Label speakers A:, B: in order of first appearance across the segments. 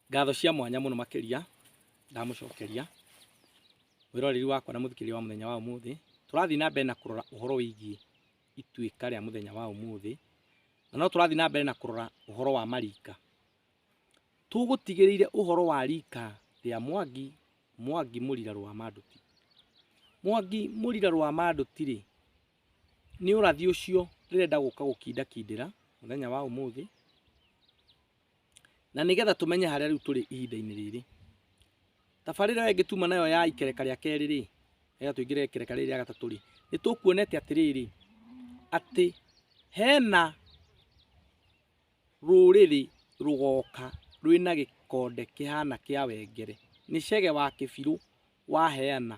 A: Ngatho cia mwanya mũno makĩria ndamũcokeria wĩroreri wakwa na mũthikĩria wa mũthenya wa ũmũthĩ. Tũrathiĩ na mbere na kũrora ũhoro wĩgiĩ ituĩka rĩa mũthenya wa ũmũthĩ, na no tũrathiĩ na mbere na kũrora ũhoro wa marika. Tũgũtigĩrĩire ũhoro wa rika rĩa Mwangi, Mwangi Mũrira Rwamanduti. Mwangi Mũrira Rwamanduti rĩ, nĩ ũrathi ũcio ndĩrenda gũka gũkindakindĩra mũthenya wa ũmũthĩ. Na nĩgetha tũmenye harĩa rĩu tũrĩ ihinda-inĩ rĩrĩ, tabarĩra ĩyo ĩngĩtuma nayo ya ikereka rĩa kerĩ rĩ, nĩgetha tũingĩre ikereka rĩrĩ rĩa gatatũ rĩ, nĩ tũkuonete atĩrĩrĩ, atĩ hena rũrĩrĩ rũgoka rwĩna gĩkonde kĩhana kĩa wengere, nĩ Chege wa Kĩbirũ waheana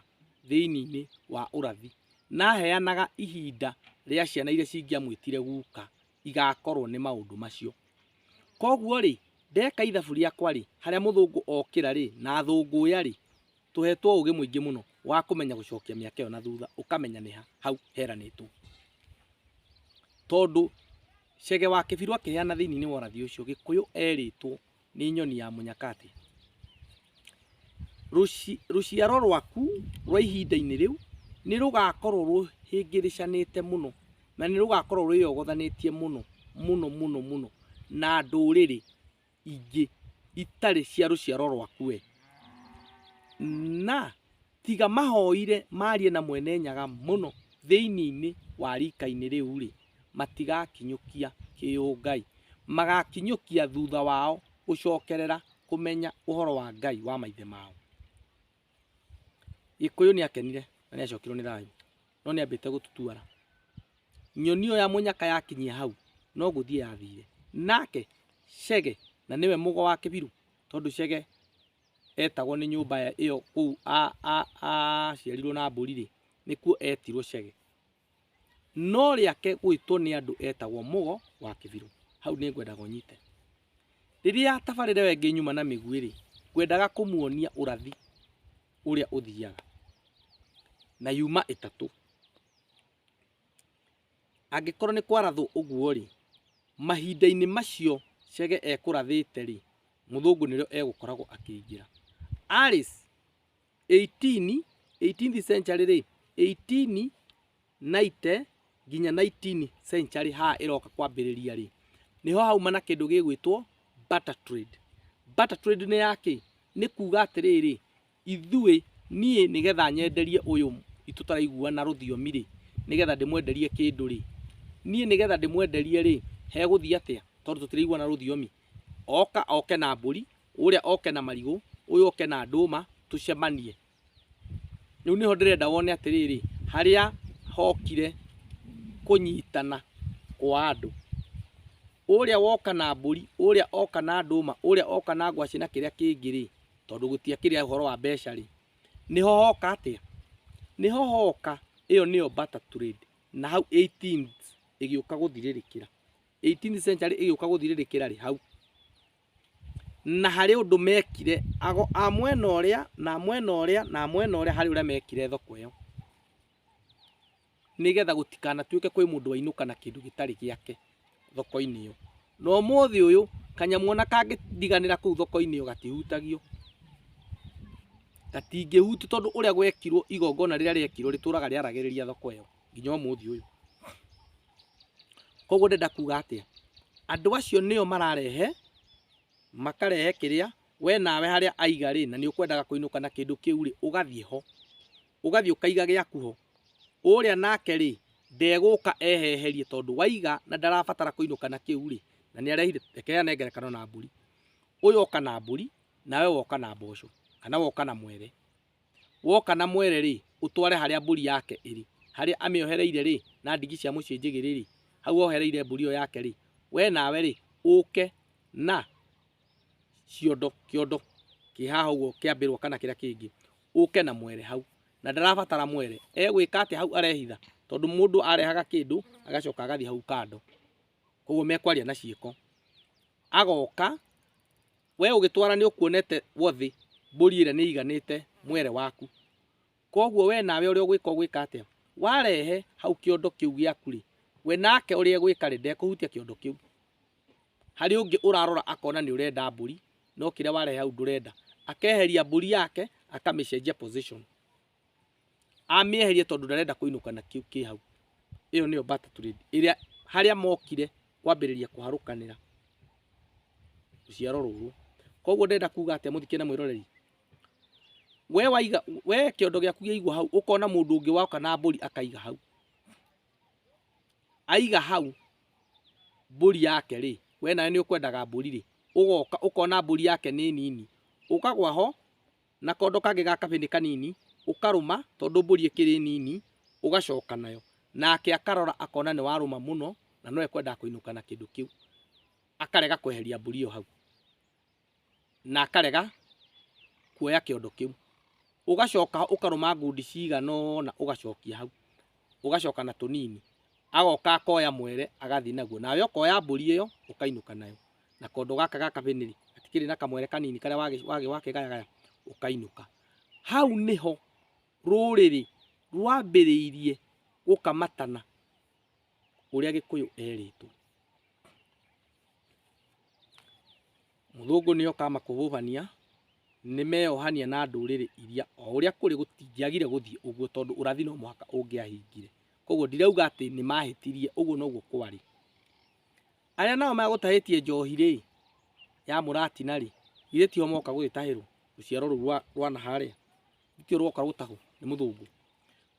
A: thĩiniĩ-inĩ wa ũrathi, na aheanaga ihinda rĩa ciana iria cingĩamwĩtire guka. igakorwo nĩ maũndũ macio. Koguo rĩ, ndeka ithabu rĩakwa rĩ, harĩa mũthũngũ okĩra rĩ, na athũngũya rĩ, tũhetwo ũgĩ mũingĩ mũno wa kũmenya gũcokia mĩaka ĩyo na thutha, ũkamenya nĩ ha hau heranĩtwo. Tondũ Chege wa Kĩbirũ akĩheana thĩiniĩ wa ũrathi ũcio, Gĩkũyũ erĩtwo nĩ nyoni ya mũnyakatĩ Rũci- rũciaro rwaku rwa ihinda-inĩ rĩu nĩ rũgakorwo rũhĩngĩrĩcanĩte mũno na nĩ rũgakorwo rwĩyogothanĩtie mũno mũno mũno mũno na ndũrĩrĩ ingĩ itarĩ cia rũciaro rwaku we na Tiga mahoire maarie na Mwene-Nyaga mũno thĩinĩ wa riika-inĩ rĩu-rĩ, matigakinyũkia kĩũngai. Magaakinyũkia thutha wao gũcokerera kũmenya ũhoro wa Ngai wa maithe mao. Gĩkũyũ nĩ akenire na nĩ acokirwo nĩ thayũ, no nĩ ambĩte gũtutuara. Nyoni ĩyo ya mũnyaka yakinyia hau, no gũthiĩ yathire. Nake Chege, na nĩwe mũgo wa Kĩbirũ, tondũ Chege etagwo nĩ nyũmba ya- ĩyo kũu a- a- aciarirwo na mbũri rĩ nĩkuo etirwo cege no rĩake gwĩtwo nĩ andũ etagwo mũgo wa kĩbirũ hau nĩ ngwendaga ũnyite rĩrĩa tabarĩra ĩyo ĩngĩ nyuma na mĩguĩ rĩ ngwendaga kũmuonia ũrathi ũrĩa ũthiaga na yuma ĩtatũ Angĩkorwo nĩ kwarathwo ũguo-rĩ, mahinda-inĩ macio Chege ekũrathĩte-rĩ, mũthũngũ nĩrĩo egũkoragwo akĩingĩra. Alice, 18, 18th century-rĩ, 1890 nginya 19 century haha ĩroka kwambĩrĩria-rĩ, nĩho hauma na kĩndũ gĩgwĩtwo barter trade. Barter trade nĩ ya kĩ? Nĩ kuga atĩrĩrĩ, Ithuĩ, niĩ nĩ getha nyenderie ũyũ tũtaraiguana rũthiomi-rĩ, nĩ getha ndĩmwenderie kĩndũ-rĩ, niĩ nĩ getha ndĩmwenderie-rĩ, hegũthiĩ atĩa tondũ tũtiraiguana rũthiomi? Oka oke na mbũri, ũrĩa oke na marigũ, ũyũ oke na ndũma, tũcemanie. Rĩu nĩho ndĩrenda wone atĩrĩrĩ, harĩa hokire kũnyitana kwa andũ, ũrĩa woka na mbũri, ũrĩa oka na ndũma, ũrĩa oka na ngwacĩ na kĩrĩa kĩngĩ-rĩ. tondũ gũtiakĩrĩ ũhoro wa mbeca rĩ nĩho hoka atĩa nĩho hoka ĩyo nĩyo barter trade na hau 18 ĩgĩũka gũthirĩrĩkĩra 18 century ĩgĩũka gũthirĩrĩkĩra rĩ hau na harĩ ũndũ mekire ago a mwena ũrĩa na mwena ũrĩa na mwena ũrĩa harĩ ũrĩa mekire thoko ĩyo nĩgetha gũtikanatuĩke kwĩ mũndũ wainũka na kĩndũ gĩtarĩ gĩake thoko-inĩ ĩyo. Na ũmũthĩ ũyũ kanyamũ ona kangĩndiganĩra kũu thoko-inĩ ĩyo gatihutagio, gatingĩhutio tondũ ũrĩa gwekirwo igongona rĩrĩa rĩekirwo rĩtũraga rĩaragĩrĩria thoko ĩyo nginya ũmũthĩ ũyũ. Koguo ndĩrenda kuga atĩa? Andũ acio nĩo mararehe, makarehe kĩrĩa, we nawe harĩa aiga rĩ, na nĩ ũkwendaga kũinũka na kĩndũ kĩu rĩ, ũgathiĩ ho. ũgathiĩ ũkaiga gĩaku ho, ũrĩa nake-rĩ, ndegũka eheherie tondũ waiga na ndarabatara kũinũka na kĩu-rĩ, na nĩarehire, reke ane ngerekano na mbũri, ũyũ oka na mbũri, nawe woka na mboco, kana woka na mwere, woka na mwere-rĩ, ũtware harĩa mbũri yake ĩrĩ, harĩa amĩohereire-rĩ, na ndigi cia mũciĩ njĩgĩrĩ-rĩ, hau ohereire mbũri ĩyo yake-rĩ, we nawe-rĩ, ũke na ciondo, kĩondo kĩ haha ũguo kĩa mbĩrwa kana kĩrĩa kĩngĩ, ũke na mwere hau na ndarabatara mwere egwĩka atĩ hau arehitha tondũ mũndũ arehaga kĩndũ agacoka agathiĩ hau kando koguo mekwaria na ciĩko agoka we ũgĩtwara nĩ ũkuonete wothĩ mbũri ĩrĩa nĩ iganĩte mwere waku koguo we nawe ũrĩa ũgwĩka ũgwĩka atĩa warehe hau kĩondo kĩu gĩaku rĩ we nake ũrĩa egwĩka rĩ ndekũhutia kĩondo kĩu Harĩ ũngĩ ũrarora akona nĩ ũrenda mbũri no kĩrĩa warehe hau ndũrenda. Akeheria mbũri yake akamĩcenjia position. Amĩeheria tondũ ndarenda kũinũka na kĩu kĩ hau. Ĩyo nĩyo barter trade ĩrĩa harĩa mokire kwambĩrĩria kũharũkanĩra rũciaro rũrũ. Koguo ndĩrenda kuga atĩa mũthikĩ na mwĩroreri? We waiga, we kĩondo gĩaku gĩaigwo hau ũkona mũndũ ũngĩ woka na mbũri akaiga hau. aiga hau mbũri yake rĩ we nawe nĩ ũkwendaga mbũri rĩ ũgoka ũkona mbũri yake nĩ nini ũkagwa ho na kondo kangĩ ga kabĩnĩ kanini ũkarũma tondũ mbũri ĩkĩrĩ nini ũgacoka nayo nake akarora akona nĩ warũma mũno na no ekwendaga kũinũka na kĩndũ kĩu akarega kweheria mbũri ĩyo hau. na akarega kuoya kĩondo kĩu. Ũgacoka ũkarũma ngundi cigana ũna ũgacokia hau, ũgacoka na tũnini. Agoka akoya mwere agathiĩ naguo, nawe ũkoya mbũri ĩyo ũkainũka nayo na kondo gaka ga kabĩnĩrĩ gatikĩrĩ na kamwere kanini karĩa wakĩgayagaya ũkainũka. Hau nĩho rũrĩrĩ rwambĩrĩirie gũkamatana. ũrĩa gĩkũyũ erĩtwo. Mũthũngũ nĩ oka amakũbũbania, nĩ meyohania na ndũrĩrĩ iria o ũrĩa kũrĩ gũtingĩagire gũthiĩ ũguo tondũ ũrathi no mũhaka ũngĩahingire. Koguo ndirauga atĩ nĩ mahĩtirie, ũguo noguo kwarĩ. Arĩa nao megũtahĩtie njohi rĩ, ya mũratina rĩ, githĩ tio moka gũgĩtahĩrwo rũciaro rũu rwa rwa na harĩa? Nĩkĩo rwoka gũtahwo nĩ mũthũngũ.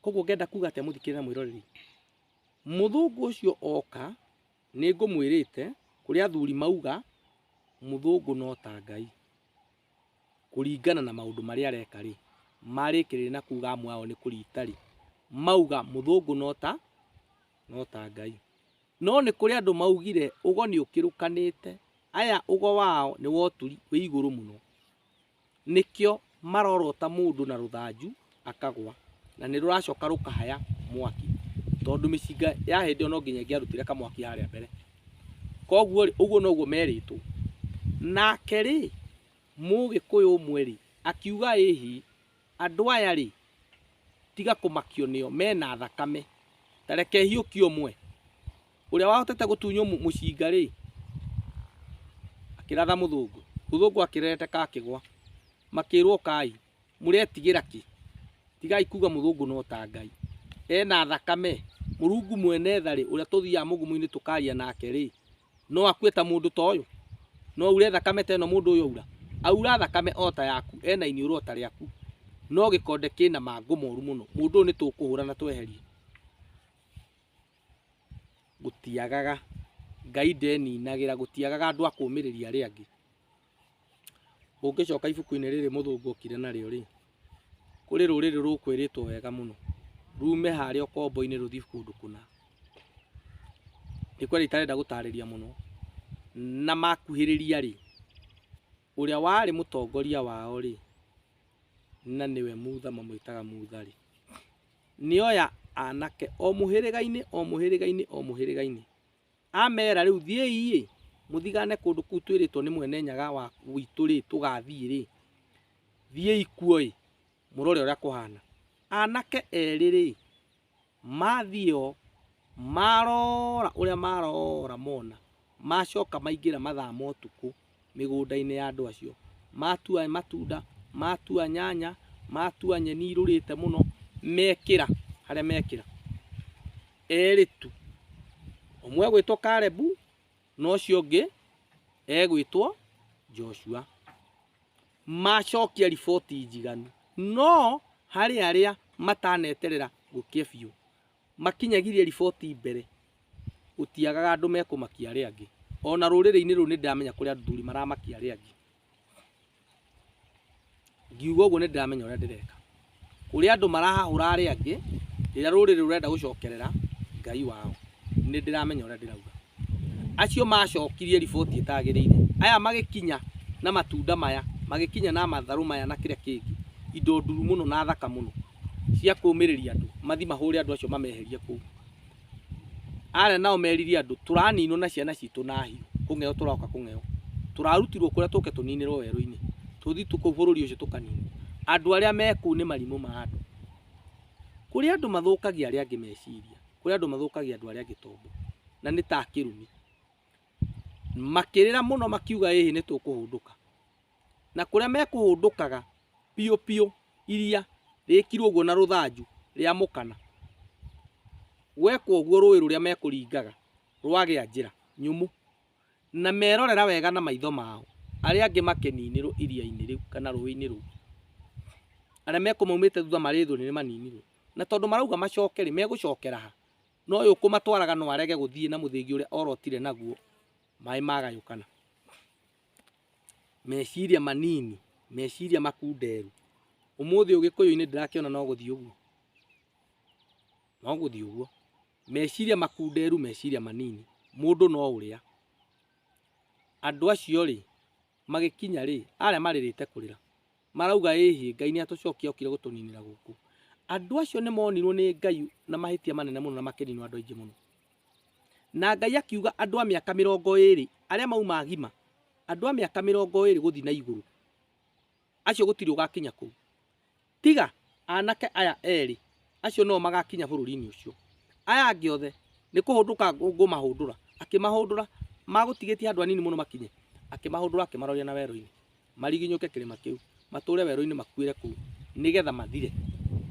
A: Koguo ngenda kuga atĩa mũthikĩrĩria na mwĩroreri? Mũthũngũ ũcio oka, nĩngũmwĩrĩte, kũrĩa athuri mauga, mũthũngũ no ta Ngai. Kũringana na maũndũ marĩa areka rĩ, marĩkĩrĩria na kuga amwe ao nĩ kũrita rĩ, mauga mũthũngũ no ta, no ta Ngai. No nĩ kũrĩ andũ maugire ũgo nĩũkĩrũkanĩte, aya ũgo wao nĩ wa ũturi wĩ igũrũ mũno. nĩkĩo marorota mũndũ na rũthanju akagwa na nĩ rũracoka rũkahaya mwaki tondũ mĩcinga ya hĩndĩ ĩyo no nginya ĩngĩarutire kamwaki harĩa mbere koguo rĩ ũguo noguo merĩtwo nake rĩ mũgĩkũyũ ũmwe rĩ akiuga ĩhi Andũ aya-rĩ, tiga kũmakio nĩo, mena thakame. Ta reke hiũkie ũmwe. Ũrĩa wahotete gũtunywo mũcinga-rĩ, akĩratha mũthũngũ. Mũthũngũ akĩrereteka akĩgwa. Makĩrwo ũkai. Mũretigĩra kĩ? Tigai kuga mũthũngũ no ta Ngai. Ena thakame. Mũrungu mwene tha-rĩ, ũrĩa tũthiaga mũgumu-inĩ tũkaria nake-rĩ, no akue ta mũndũ ta ũyũ no ure thakame ta ĩno mũndũ ũyũ aura aura thakame o ta yaku ena iniũrũ o ta rĩaku no gĩkonde kĩna mangũ moru mũno mũndũ ũyũ nĩ tũkũhũra na tweherie gũtiagaga ngai ndeninagĩra gũtiagaga andũ a kũmĩrĩria arĩa angĩ Ũngĩcoka ibuku-inĩ rĩrĩ mũthũngũ okire narĩo rĩ, kũrĩ rũrĩrĩ rũkwĩrĩtwo wega mũno, rume harĩa ũkombo-inĩ rũthiĩ kũndũ kũna. Nĩ kweli itarenda gũtarĩria mũno. Na makuhĩrĩria rĩ, ũrĩa warĩ mũtongoria wao rĩ, na nĩwe Mutha mamwĩtaga Mutha rĩ, nĩ oya anake o mũhĩrĩga-inĩ o mũhĩrĩga-inĩ o mũhĩrĩga-inĩ. Ameera, Rĩu thiĩi-ĩ, mũthigaane kũndũ kũu twĩrĩtwo nĩ mwene nyaga witũ-rĩ, tũgaathiĩ-rĩ, thiĩi kuo-ĩ, mũrore ũrĩa kũhaana. Anake eerĩ-rĩ, maathiĩ o, maarora ũrĩa maarora mona, maacoka maingĩra mathaa ma ũtukũ. mĩgũnda-inĩ ya andũ acio. Matua matunda, matua nyanya, matua nyeni irũrĩte mũno, mekĩra harĩa mekĩra. Erĩ tu. Ũmwe egwĩtwo Karebu, na ũcio ũngĩ egwĩtwo Joshua. Macokia riboti njiganu. No harĩ arĩa mataneterera gũkĩa biũ, Makinyagirie riboti mbere, gũtiagaga andũ mekũmakia arĩa angĩ. O na rũrĩrĩ-inĩ rũrũ nĩndĩramenya kũrĩ athuri maramakia arĩa angĩ. Ngiuga ũguo nĩndĩramenya ũrĩa ndĩreka. Kũrĩ andũ marahahũra arĩa angĩ, rĩrĩa rũrĩrĩ rũrenda gũcokerera Ngai wao. Nĩndĩramenya ũrĩa ndĩrauga. acio macokirie riboti ĩtagĩrĩire. Aya magĩkinya na matunda maya, magĩkinya na matharũ maya na kĩrĩa kĩngĩ, indo nduru mũno na thaka mũno cia kũmĩrĩria andũ, mathiĩ mahũre andũ acio mameherie kũu. Aya nao meririe andũ tũraninwo na ciana citũ na hiũ, kũng'eyo tũroka kũng'eyo, tũrarutirwo kũrĩa tũke tũninĩrwo werũ-inĩ, tũthiĩ kũu bũrũri ũcio tũkaninwo. Andũ arĩa me kũu nĩ marimũ ma andũ. Kũrĩ andũ mathũkagia arĩa angĩ meciria. kũrĩ andũ mathũkagia andũ arĩa angĩ tombo na nĩ ta kĩrumi makĩrĩra mũno makiuga ĩhĩ nĩ tũkũhũndũka na kũrĩa mekũhũndũkaga piũ piũ iria rĩkirwo ũguo na rũthanju rĩa mũkana gwekwo ũguo rũĩ rũrĩa mekũringaga rwagĩa njĩra nyũmũ na merorera wega na maitho mao arĩa angĩ makĩninĩrwo iria-inĩ rĩu kana rũĩ-inĩ rũu, arĩa mekũmaumĩte thutha marĩ thũ nĩ maninirwo, na tondũ marauga macoke rĩ, megũcokera ha? Na ũyũ ũkũmatwaraga no arege gũthiĩ na mũthĩgi ũrĩa orotire naguo maĩ magayũkana. Meciria manini, meciria makunderu. Ũmũthĩ ũgĩkũyũ-inĩ ndĩrakĩona no gũthiĩ ũguo, no gũthiĩ ũguo. Meciria makunderu meciria manini, mũndũ no ũrĩa. Andũ acio rĩ, magĩkinya rĩ, arĩa marĩrĩte kũrĩra, marauga ĩhĩ, Ngai nĩ atũcokia okire gũtũninĩra gũkũ. Andũ acio nĩ monirwo nĩ Ngai na mahĩtia manene mũno na makĩninwo andũ aingĩ mũno. Na Ngai akiuga andũ a mĩaka mĩrongo ĩrĩ, arĩa mauma agima, andũ a mĩaka mĩrongo ĩrĩ gũthiĩ na igũrũ, acio gũtirĩ ũgakinya kũu. Tiga anake aya erĩ, acio nĩo magakinya bũrũri-inĩ ũcio. Aya angĩ othe nĩ kũhũndũka ngũmahũndũra. Akĩmahũndũra, magũtigĩtie handũ hanini mũno makinye, akĩmahũndũra akĩmaroria na werũ-inĩ, mariginyũke kĩrĩma kĩu, matũũre werũ-inĩ makuĩre kũu, nĩgetha mathire,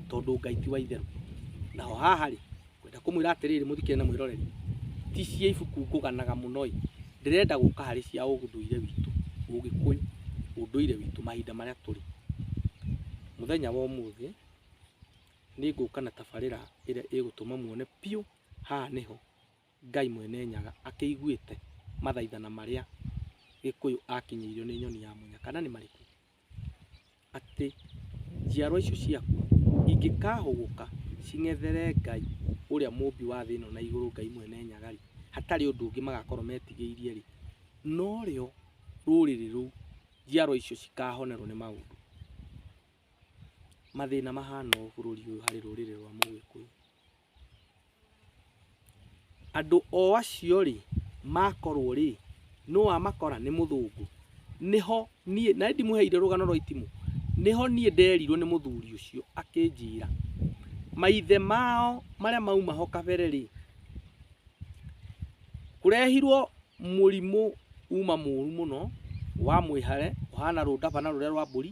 A: tondũ Ngai ti wa itherũ. Naho haha-rĩ, Ngwenda kũmwĩra atĩrĩrĩ, mũthikĩrĩrie na mwĩroreri, ti cia ibuku ngũganaga mũno-ĩ, ndĩrenda gũka harĩ cia ũndũire witũ, ũgĩkũyũ, ũndũire witũ, mahinda marĩa tũrĩ. Mũthenya wa ũmũthĩ nĩngũka na tabarĩra ĩrĩa ĩgũtũma muone biũ haha nĩho Ngai Mwene Nyaga akĩiguĩte mathaithana marĩa Gĩkũyũ akinyĩirio nĩ nyoni ya mũnyaka. Na nĩ marĩkũ? atĩ njiarwa icio ciaku ingĩkahũgũka cing'ethere Ngai ũrĩa mũmbi wa thĩ ĩno na igũrũ Ngai mwene Nyaga-rĩ, hatarĩ ũndũ ũngĩ magakorwo metigĩirie-rĩ, norĩo rũrĩrĩ rũu, njiarwa icio cikahonerwo nĩ maũndũ. Mathĩna mahana ũũ bũrũri ũyũ harĩ rũrĩrĩ rwa Mũgĩkũyũ. Andũ o acio rĩ makorwo rĩ nũ wamakora nĩ mũthũngũ, nĩho niĩ na nĩndĩmũheire rũgano rwa itimũ, nĩho niĩ nderirwo nĩ mũthuri ũcio akĩnjĩra maithe mao marĩa mauma ho kabere rĩ kũrehirwo mũrimũ uma mũru mũno wa mwĩhare ũhana rũndabana rũrĩa rwa mbũri.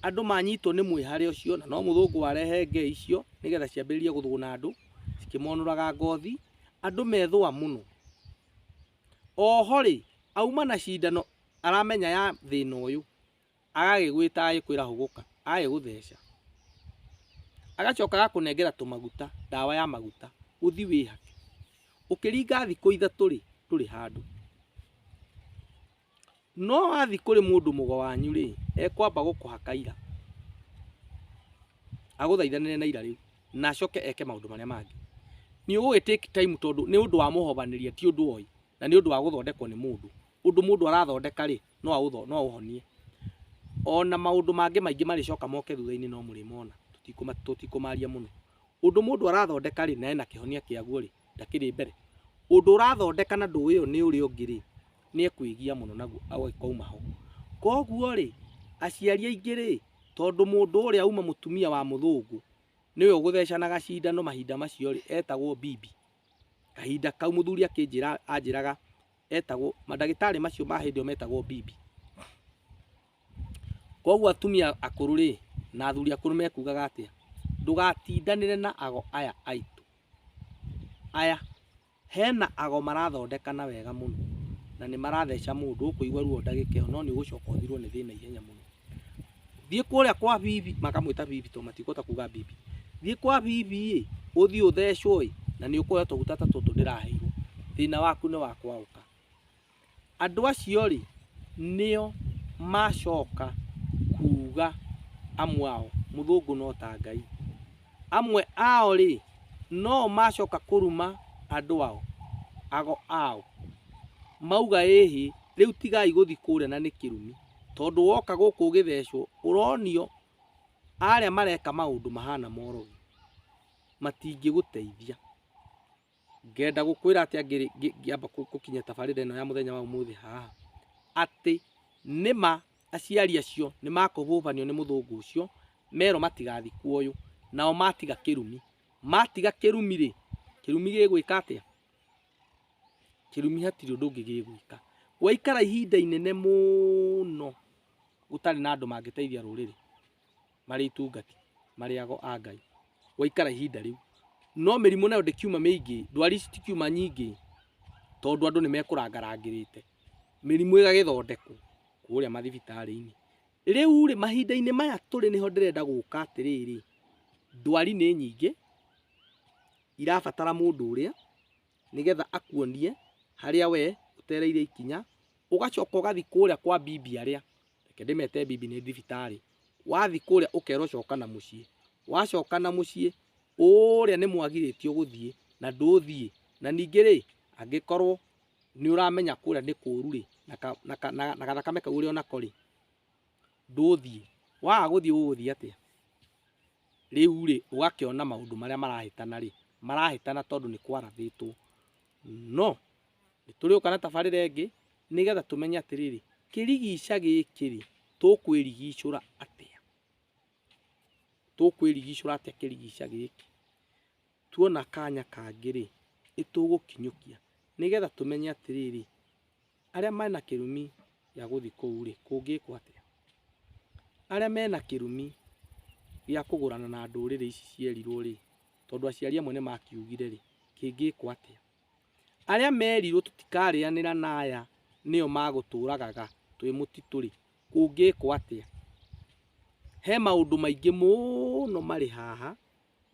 A: Andũ manyitwo nĩ mwĩhare ũcio, na no mũthũngũ warehe ngei icio nĩgetha ciambĩrĩrie gũthũgũna andũ cikĩmonũraga ngothi, andũ methũa mũno. Oho-rĩ, auma na cindano aramenya ya thĩna ũyũ, agagĩgwĩta agagĩkwĩra hũgũka, agagĩgũtheca, agacoka agakũnengera tũmaguta, ndawa ya maguta, ũthi wĩhake. Ũkĩringa thikũ ithatũ-rĩ, ndũrĩ handũ. No wathiĩ kũrĩ mũndũ mũgo wanyu-rĩ, ekwamba gũkũha kaira, agũthaithanĩre na ira rĩu, na acoke eke maũndũ marĩa mangĩ. Nĩũgũgĩ take time tondũ nĩ ũndũ wa mũhobanĩria ti ũndũ oĩ, na nĩ ũndũ wa gũthondekwo nĩ mũndũ. Ũndũ mũndũ arathondeka-rĩ, no aũhonie. Ona maũndũ mangĩ maingĩ marĩcoka moke thutha-inĩ no mũrĩmona, tũtikũmaria mũno. Ũndũ mũndũ arathondeka-rĩ, na ena kĩhonia kĩaguo-rĩ, ndakĩrĩ mbere. Ũndũ ũrathondeka na ndũĩ ũyũ nĩ ũrĩa ũngĩ-rĩ. nĩ ekwĩgia mũno naguo agĩkauma ho. Koguo rĩ, aciari aingĩ rĩ, tondũ mũndũ ũrĩa uma mũtumia wa mũthũngũ nĩwe ũgũthecanaga cindano mahinda macio rĩ, etagwo bibi. Kahinda kau mũthuri akĩnjĩra anjĩraga etagwo, mandagĩtarĩ macio ma hĩndĩ ĩyo metagwo bibi. Koguo atumia akũrũ rĩ, na athuri akũrũ mekugaga atĩa? Ndũgatindanĩre na ago aya aitũ, aya. Hena ago marathondekana wega mũno na nĩ maratheca mũndũ ũkũigua ruo ndagĩka ĩyo no nĩ ũgũcoka ũthirwo nĩ thĩna ihenya mũno. Thiĩ kũrĩa kwa bibi, makamwĩta bibi tondũ matikũhota kuga bibi. Thiĩ kwa bibi ĩ, ũthiĩ ũthecwo ĩ na nĩ ũkũheo tũguta ta tũtũ ndĩraheirwo, thĩna waku nĩ wa kwaũka. Andũ acio-rĩ, nĩo macoka kuuga amwe ao, mũthũngũ no ta Ngai. Amwe ao-rĩ, no-o macoka kũruma andũ ao, ago ao. Mauga ĩhĩ, rĩu tigai gũthiĩ kũrĩa na nĩ kĩrumi. Tondũ woka gũkũ ũgĩthecwo, ũronio arĩa mareka maũndũ mahana morogi, matingĩgũteithia. ngenda gũkwĩra atĩa ngĩrĩ- ngĩ- ngĩamba kũ- gũkinya tabarĩra ĩno ya mũthenya wa ũmũthĩ haha atĩ nĩma aciari acio nĩ makũhũbanio nĩ mũthũngũ ũcio merwo matigathi kuoyũ nao matiga kĩrumi matiga kĩrumi rĩ kĩrumi gĩgwĩka atĩa kĩrumi hatirĩ ũndũ ũngĩ gĩgwĩka gwaikara ihinda inene mũno gũtarĩ na andũ mangĩteithia rũrĩrĩ marĩ itungati marĩago a Ngai gwaikara ihinda rĩu. No mĩrimũ nayo ndĩkiuma mĩingĩ, ndwari ici tikiuma nyingĩ tondũ andũ nĩ mekũrangarangĩrĩte, mĩrimũ ĩgagĩthondekwo kũrĩa mathibitarĩ-inĩ. Rĩu rĩ, mahinda-inĩ maya tũrĩ nĩho ndĩrenda gũka atĩrĩrĩ, ndwari nĩ nyingĩ irabatara mũndũ ũrĩa nĩgetha akuonie harĩa we ũtereire ikinya, ũgacoka ũgathiĩ kũrĩa kwa bibi arĩa reke ndĩmete bibi nĩ thibitarĩ, wathiĩ kũrĩa ũkerwo coka na mũciĩ, wacoka na mũciĩ ũrĩa nĩ mwagirĩtio gũthiĩ na ndũthiĩ, na ningĩ rĩ angĩkorwo nĩ ũramenya kũrĩa nĩ kũru rĩ na gathakame kau ũrĩ onako rĩ ndũthiĩ, waga gũthiĩ ũgũthiĩ atĩa? Rĩu rĩ ũgakĩona maũndũ marĩa marahĩtana rĩ marahĩtana tondũ nĩ kwarathĩtwo no nĩ tũrĩũka na tabarĩra ĩngĩ nĩgetha tũmenye atĩrĩrĩ, kĩrigica gĩkĩ rĩ, tũkwĩrigicũra atĩa? Tũkwĩrigicũra atĩa kĩrigica gĩkĩ? Tuona kanya kangĩ rĩ, nĩ tũgũkinyũkia nĩgetha tũmenye atĩrĩrĩ, arĩa mena kĩrumi gĩa gũthiĩ kũu rĩ, kũngĩkwo atĩa? Arĩa mena kĩrumi gĩa kũgũrana na ndũrĩrĩ ici cierirwo rĩ, tondũ aciari amwe nĩ makiugire rĩ, kĩngĩkwo atĩa? Arĩa merirwo tũtikarĩanĩra na aya nĩo magũtũragaga twĩ mũtitũ-rĩ, kũngĩkwo atĩa? He maũndũ maingĩ mũno marĩ haha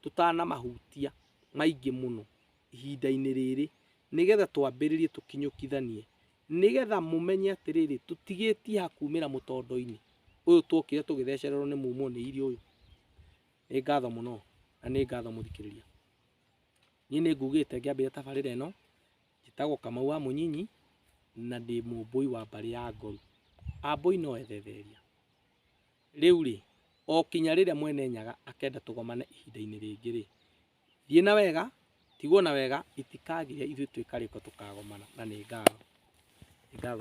A: tũtanamahutia maingĩ mũno ihinda-inĩ rĩrĩ nĩgetha twambĩrĩrie tũkinyũkithanie nĩgetha mũmenye atĩrĩrĩ, tũtigĩtie ha kumĩra mũtondo-inĩ ũyũ twokire tũgĩthecererwo nĩ mumũ nĩ iria ũyũ. Nĩ ngatho mũno na nĩ ngatho mũthikĩrĩria. Niĩ nĩ ngugĩte ngĩambĩrĩria tabarĩra ĩno, njĩtagwo Kamau wa Mũnyinyi, na ndĩ mũmbũi wa mbarĩ ya Ngoru. Ambũi no ethetheria. Rĩu rĩ, o kinya rĩrĩa Mwene Nyaga akenda tũgomane ihinda-inĩ rĩngĩ rĩ, thiĩ na wega, tigwo na wega, itikagĩre ithuĩ twĩ karĩko tũkagomana, na nĩ ngatho. Nĩ ngatho.